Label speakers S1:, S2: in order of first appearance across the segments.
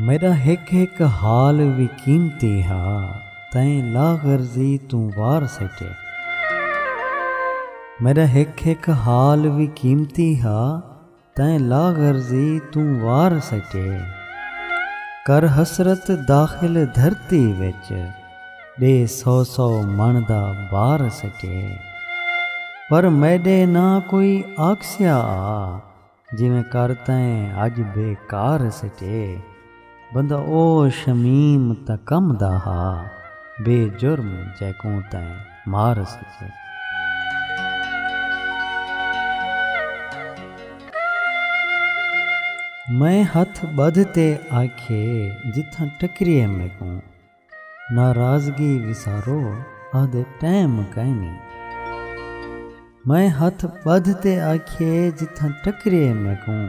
S1: میݙا ہک ہک حال وی قیمتی ہا تئیں لاغرضی توں وار سٹے۔ میݙا ہک ہک حال وی قیمتی ہا۔ تئیں لا غرضی توں وار سٹے۔ کر حسرت داخل دھرتی وچ ݙے سو سو مݨ دا بار سٹے۔ پر میݙے نہ کوئی آکھسیا آ جیویں کر تئیں اڄ بے کار سٹے۔ بندہ او شمیم تاں کم دا ہا بے جرم جیکوں تئیں مار سچے۔ میں ہتھ ٻدھ تے آکھیے جتھاں ٹکریے میکوں۔ ناراضگی وسارو آہدے ٹیم کائنی۔ میں ہتھ ٻدھ تے آکھیے جتھاں ٹکریے میکوں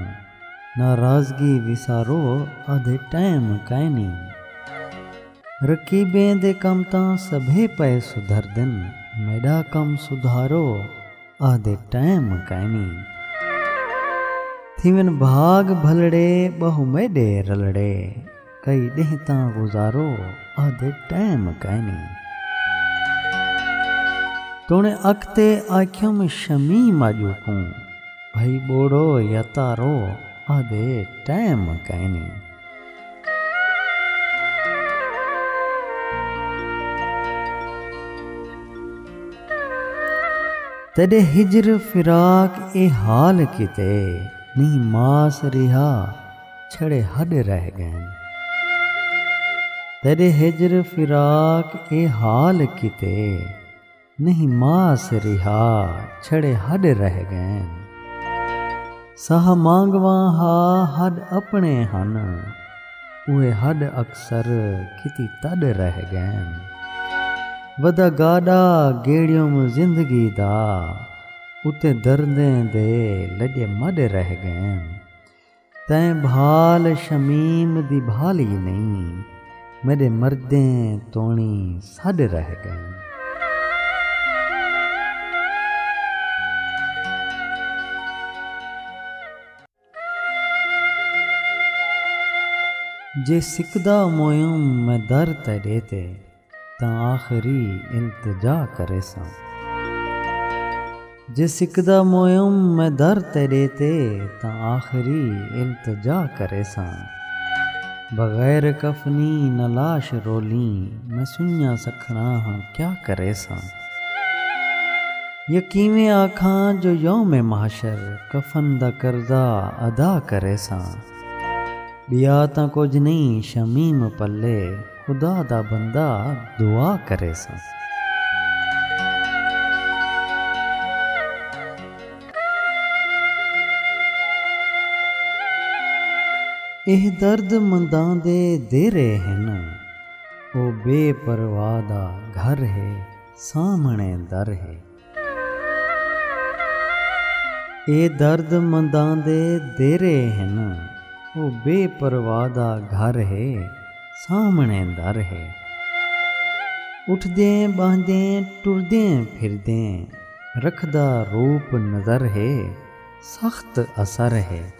S1: ناراضگی وسارو آہدے ٹیم کائنی۔ رقیبیں دے کم تاں سبھے پئے سدھردن میݙا کم سدھارو آہدے ٹیم کائنی۔ تھیون بھاڳ بھلڑے ٻہوں میݙے رلڑے۔ کئی ݙینہہ تاں گزارو آہدے ٹائم کائنی۔ توݨے اکتے آکھیم شمیم آڄو کوں بھئی ٻوڑو یا تارو آہدے ٹائم کائنی۔ تیݙے ہجر فراق اے حال کیتے نی ماس ریہا۔ چھڑے ہݙ رہ ڳئن۔ تیݙے ہجر فراق اے حال کیتے نہیں ماس ریہا چھڑے ہݙ رہ ڳئن۔ ساہ مانگواں ہا ہݙ اپݨے ہن اوہے ہݙ اکثر کیتی تݙ رہ ڳئن۔ ودا گاݙا گیڑیوم زندگی دا اتے دردیں دے لڄے مݙ رہ ڳئن۔ تئیں بھال شمیم دی بھالی نئیں میݙے مردیں توݨی سݙ رہ ڳئیں۔ جے سکدا موئم میں در تیݙے تے۔ تاں آخری التجا کریساں۔ جے سکدا موئم میں در تیݙے تے تاں آخری التجا کریساں۔ بغیر کفنی نہ لاش رولیں میں سنڄاں سکھݨا ہاں کیا کریساں۔ یا کیویں آکھاں جو یوم محشر کفن دا قرضہ ادا کریساں۔ ٻیا تاں کجھ نئیں شمیم پلے۔ خدا دا بندہ دعا کریساں۔ ایہ درد منداں دے دیرے ہن۔ او بے پرواہ دا گھر ہے سامھݨے در ہے۔ اے درد منداں دے دیرے ہن او بے پرواہ دا گھر ہے سامھݨے در ہے اٹھدیں ٻہندیں ٹردیں پھردیں رکھدا روپ نظر ہے سخت اثر ہے۔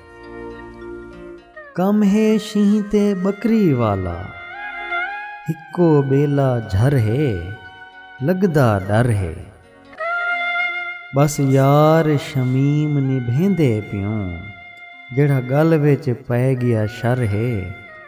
S1: کم ہے شینہہ تے ٻکری والا ہکو ٻیلا جھر ہے لڳدا ݙر ہے ٻس یار شمیم نبھیندے پیوں جیڑھا ڳل وچ پئے ڳیا شر ہے۔